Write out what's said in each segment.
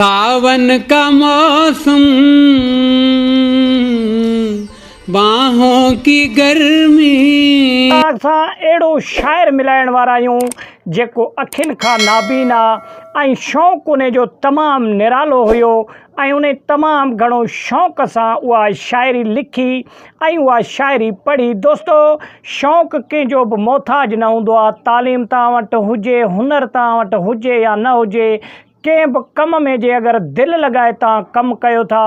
ساون ڪا موسم باهون ڪي گرمي. توهان سان اهڙو شاعر ملائڻ وارا آهيون جيڪو اکين کان نابينا ۽ شوق انهي جو تمام نرالو هيو ۽ انهي تمام گهڻو شوق سان اها شاعري لکي ۽ اها شاعري پڙهي دوستو شوق ڪنهن جو به محتاج نه هوندو آهي تعليم توهان وٽ هجي هنر توهان وٽ هجي يا نه هجي ڪنهن به ڪم ۾ جي اگر دل لڳائي توهان ڪم ڪيو ٿا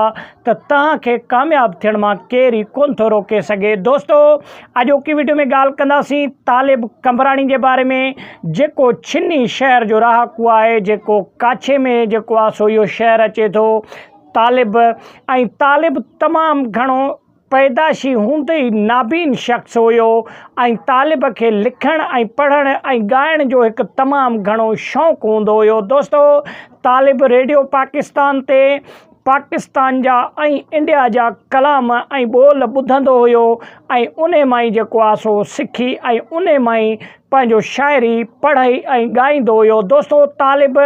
ته توهان کي ڪامياب ٿيڻ مان ڪير ئي ڪونه ٿو روڪي سگهي. دوستو اڄوڪي وڊيو ۾ ڳالهه ڪنداسين طالب قمبراڻي جي باري ۾ جيڪو ڇني شهر جو رهاڪو آهي جيڪو ڪاڇي ۾ جيڪو آ سو اهو شهر اچي ٿو طالب ۽ طالب تمام گهڻو پيدائشي هوندي ئي نابين شخص هيو ۽ طالب کي لکڻ ۽ پڙهڻ ۽ ڳائڻ جو هڪ تمام گهڻو شوق هوندو هيو دوستو طالب ريڊيو پاڪستان تي پاڪستان جا ۽ انڊيا جا ڪلام ۽ ٻول ٻڌندو هيو ۽ انهي مان ئي جيڪو آهي سو سکي ۽ انهي مان ئي پنهنجو شاعري، پڙهئي ۽ ڳائيندو هيو. دوستو طالب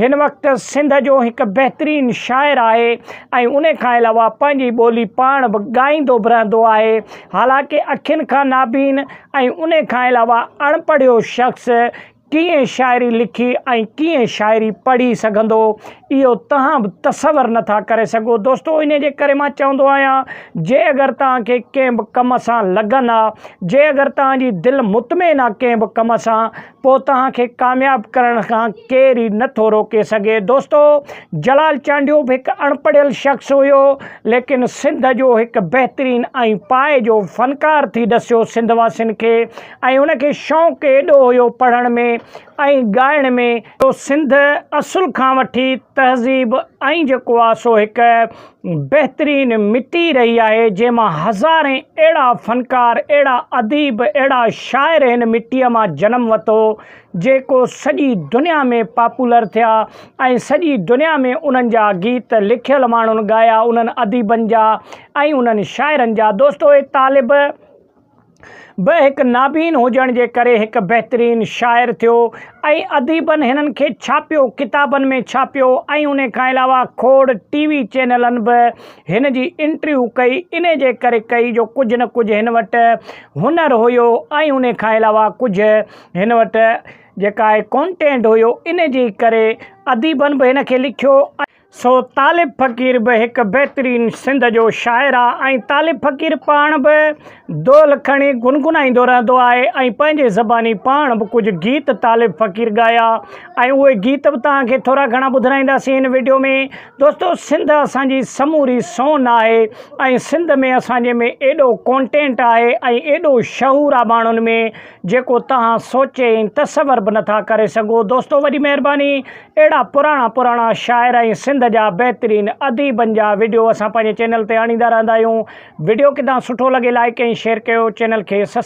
هن وقت سنڌ جو هڪ بهترين شاعر آهي ۽ انهي کان علاوه پنهنجي ٻولي پاڻ به ڳائيندو به رهندو آهي. حالانڪه اکين کان نابين ۽ انهي کان علاوه اڻ پڙهيو شخص ڪيئن شاعري لکي ۽ ڪيئن شاعري پڙهي سگهندو اهو توهان به تصور نه ٿا ڪري سگهو دوستو انهي جي ڪري مان چوندو آهيان جي اگر توهان کي ڪنهن به ڪم سان لگن آ جي اگر توهان جي دل مطمئن آ ڪنهن به ڪم سان پو توهان کي ڪامياب ڪرڻ کان ڪير ئي نه ٿو روڪي سگهي دوستو جلال چانڊيو به هڪ اڻپڙهيل شخص هيو ليڪن سنڌ جو هڪ بهترين ۽ پاء جو فنڪار ٿي ڏسيو سنڌ واسين کي ۽ ان کي شوق ايڏو هيو پڙهڻ ۾ ۽ ڳائڻ ۾ جو سنڌ اصل کان وٺي تهذيب ۽ جيڪو آ سو هڪ بهترين مٽي رهي آهي جنهن مان هزارين اهڙا فنڪار اهڙا اديب اهڙا شاعر هن مٽي مان جنم وتو جيڪو سڄي دنيا ۾ پاپولر ٿيا ۽ سڄي دنيا ۾ انهن جا گيت لکيل ماڻهن ڳايا انهن اديبن جا ۽ انهن شاعرن جا دوستو اهي طالب به هڪ نابين هجڻ جي ڪري هڪ بهترين شاعر ٿيو ۽ اديبن هنن کي ڇاپيو، ڪتابن ۾ ڇاپيو ۽ انهي کان علاوه کوڙ ٽي وي چينلن به هن جي انٽرويو ڪئي، انهي جي ڪري ڪئي جو ڪجهه نه ڪجهه هن وٽ هنر هيو ۽ انهي کان علاوه ڪجهه هن وٽ جيڪا آهي ڪونٽينٽ هيو، انهي جي ڪري اديبن به هن کي لکيو ۽. سو طالب فقير به هڪ بهترين سنڌ جو شاعر آ ۽ طالب فقير پاڻ به دول کڻي گنگنائيندو رهندو آهي ۽ پنهنجي زباني پاڻ به ڪجهه گيت طالب فقير ڳايا ۽ اهي گيت به توهان کي ٿورا گهڻا ٻڌرائينداسين هن وڊيو ۾ دوستو سنڌ اسان جي سموري سون آهي ۽ سنڌ ۾ اسان جي ۾ ايڏو ڪونٽينٽ آهي ۽ ايڏو شعور آ ماڻهن ۾ جيڪو توهان سوچي ۽ تصور به نٿا ڪري سگهو دوستو وڏي مهرباني اهڙا پراڻا پراڻا شاعر ۽ سنڌ جا بهترين اديبن جا وڊيو اسان پنهنجي چينل تي آڻيندا رهندا آهيون وڊيو ڪدا سٺو لڳي لائيڪ ۽ شيئر ڪيو چينل کي